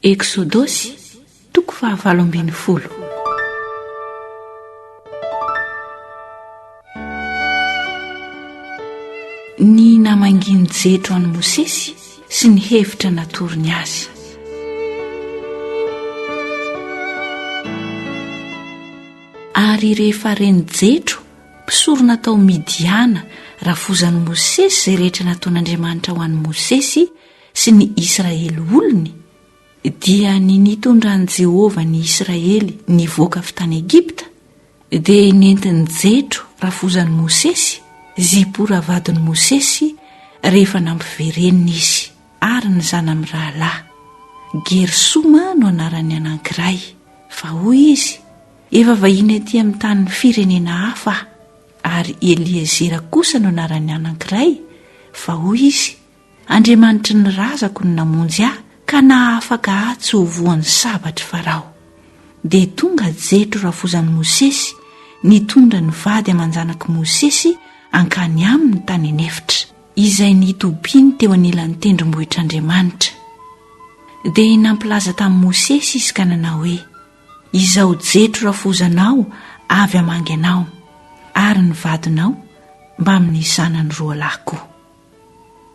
Eksodosy, toko fahavalo ambin'ny folo. Ny namangian'ny jetro an'i Mosesy sy ny hevitra natorony azy. Ary rehefa reny jetro, mpisorona tao Midiana, rafozan'i Mosesy izay rehetra nataon'Andriamanitra ho an'i Mosesy, sy ny Israely olony, dia ny nitondran'i Jehovah ny Israely nivoaka avy tany Egypta, dia nentiny Jetro rafozan'i Mosesy, Zipora vadin'i Mosesy, rehefa nampivereniny izy, ary ny zana-mirahalahy. Gersoma no anaran'ny anankiray. Fa hoy izy, Efa vahiny atỳ amin'ny tanin'ny firenena hafa aho. Ary Eliezera kosa no anaran'ny anankiray, fa hoy izy, Andriamanitry ny razako no namonjy ahy ka nahafaka ahy tsy ho voan'ny sabatr'i Farao. Dia tonga Jetro rafozan'i Mosesy nitondra ny vady aman-janak'i Mosesy hankany aminy tany an'efitra, izay nitobiany teo anilan'ny tendrombohitr'Andriamanitra. Dia nampilaza tamin'i Mosesy izy ka nanao hoe, Izao Jetro rafozanao avy hamangy anao, ary ny vadinao, mbamin'ny zanany roalahy koa.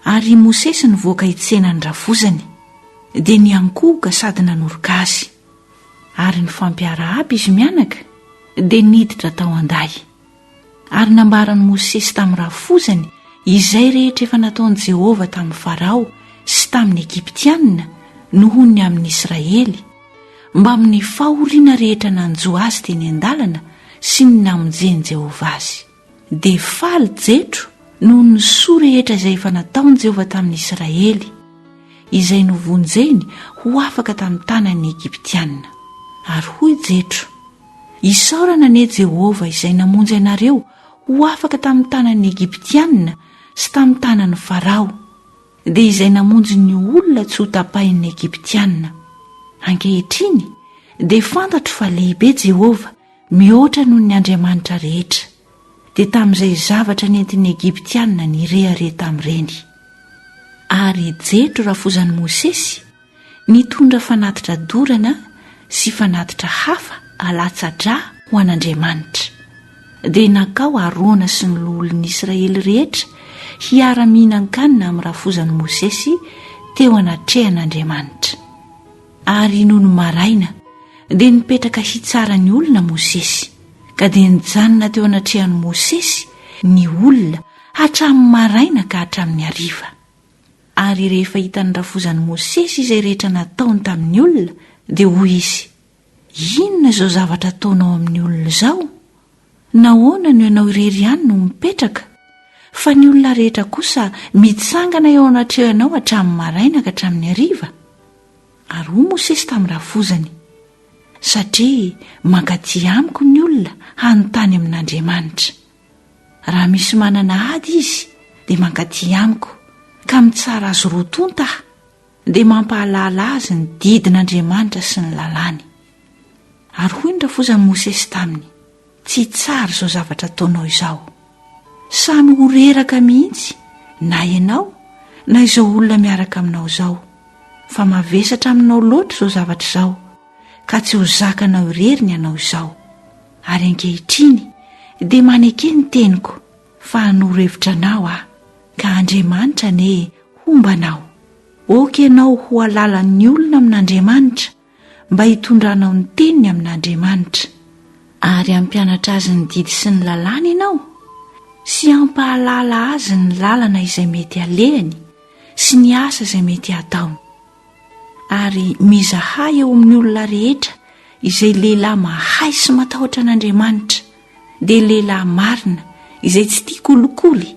Ary i Mosesy nivoaka hitsena ny ravozany, dia niankohoka sady nanoroka azy. Ary ny fampiarahaba izy mianaka, dia niditra tao an-dahy. Ary nambaran'i Mosesy tamin'ny ravozany izay rehetra efa nataon'i Jehovah tamin'i Farao sy tamin'ny Egyptianina noho ny amin'ny Israely, mbamin'ny fahoriana rehetra nanjo azy teny an-dalana sy ny namonjen'i Jehovah azy. dia faly Jetro noho ny soa rehetra izay efa nataon'i Jehovah tamin'ny Isiraely, izay novonjeny ho afaka tamin'ny tanan'ny Egyptiana. Ary hoy Jetro, Isaorana anie Jehovah izay namonjy anareo ho afaka tamin'ny tanan'ny Egyptiana sy tamin'ny tanan'i Farao, dia izay namonjy ny olona tsy hotapahin'ny Egyptiana. Ankehitriny dia fantatro fa lehibe Jehovah Mihoatra noho ny andriamanitra rehetra, dia tamin'izay zavatra nentin'ny Egyptiana nirehareha tamin'ireny. Ary Jetro rafozan'i Mosesy nitondra fanatitra dorana sy fanatitra hafa alatsa-drà ho an'Andriamanitra. Dia nankao Arona sy ny loholon'ny Israely rehetra hiara-mihinan-kanina amin'ny rafozan'i Mosesy teo anatrehan'Andriamanitra. Ary nony maraina, dia nipetraka hitsara ny olona Mosesy. Ka dia nijanona teo anatrehan'i Mosesy ny olona hatramin'ny maraina ka hatramin'ny hariva. Ary rehefa hitan'ny rafozan'i Mosesy izay rehetra nataony tamin'ny olona, dia hoy izy, Inona izao zavatra ataonao amin'ny olona izao? Nahoana no ianao irery ihany no mipetraka, fa ny olona rehetra kosa mitsangana eo anatrehanao hatramin'ny maraina ka hatramin'ny hariva? Ary hoy Mosesy tamin'ny rafozany, Satria mankaty amiko ny olona hanontany amin'Andriamanitra. Raha misy manana ady izy, dia mankaty amiko, ka mitsara azy roa tonta aho. dia mampahalala azy ny didin'Andriamanitra sy ny lalàny. Ary hoy ny rafozan'i Mosesy taminy, Tsy tsara izao zavatra ataonao izao. Samy ho reraka mihitsy na ianao na izao olona miaraka aminao izao, fa mavesatra aminao loatra izao zavatra izao, ka tsy ho zakanao irery ny anao izao. Ary ankehitriny dia maneke ny teniko. Fa hanoro hevitra anao aho, ka Andriamanitra anie homba anao. Aoka ianao ho halalan'ny olona amin'Andriamanitra, mba hitondranao ny teniny amin'Andriamanitra. Ary hampianatra azy ny didy sy ny lalàny ianao, sy hampahalala azy ny lalana izay mety halehany sy ny asa izay mety hataony. ary mizaha eo amin'ny olona rehetra izay lehilahy mahay sy matahotra an'Andriamanitra, dia lehilahy marina izay tsy tia kolikoly,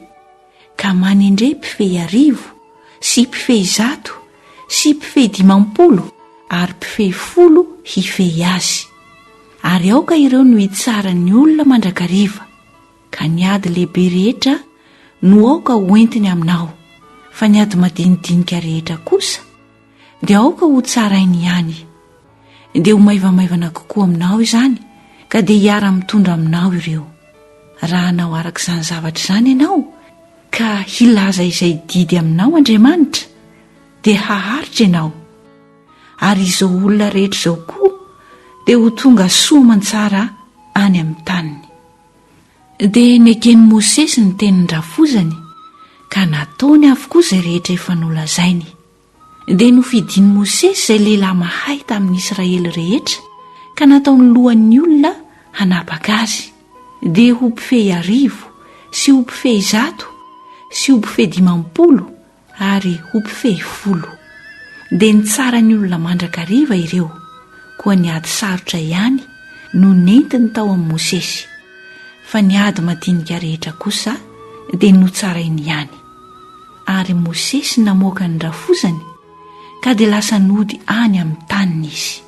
ka manendre mpifehy arivo sy mpifehy zato sy mpifehy dimampolo ary mpifehy folo hifehy azy. Ary aoka ireo no hitsara ny olona mandrakariva. Ka ny ady lehibe rehetra no aoka ho entiny aminao, fa ny ady madinidinika rehetra kosa dia aoka ho tsarainy ihany. Dia ho maivamaivana kokoa aminao izany, ka dia hiara-mitondra aminao ireo. Raha hanao araka izany zavatra izany ianao, ka hilaza izay didy aminao Andriamanitra, dia haharitra ianao. Ary izao olona rehetra izao koa dia ho tonga soa aman-tsara any amin'ny taniny. Dia neken'i Mosesy ny tenin-drafozany, ka nataony avokoa izay rehetra efa nolazainy. Dia nofidin'i Mosesy izay lehilahy mahay tamin'ny Israely rehetra, ka nataony lohan'ny olona hanapaka azy, dia ho mpifehy arivo, sy ho mpifehy zato, sy ho mpifehy dimampolo, ary ho mpifehy folo. Dia nitsara ny olona mandrakariva ireo, koa ny ady sarotra ihany no nentiny tao amin'i Mosesy, fa ny ady madinika rehetra kosa dia notsarainy ihany. Ary Mosesy namoaka ny rafozany, ka dia lasa nody any amin'ny taniny izy.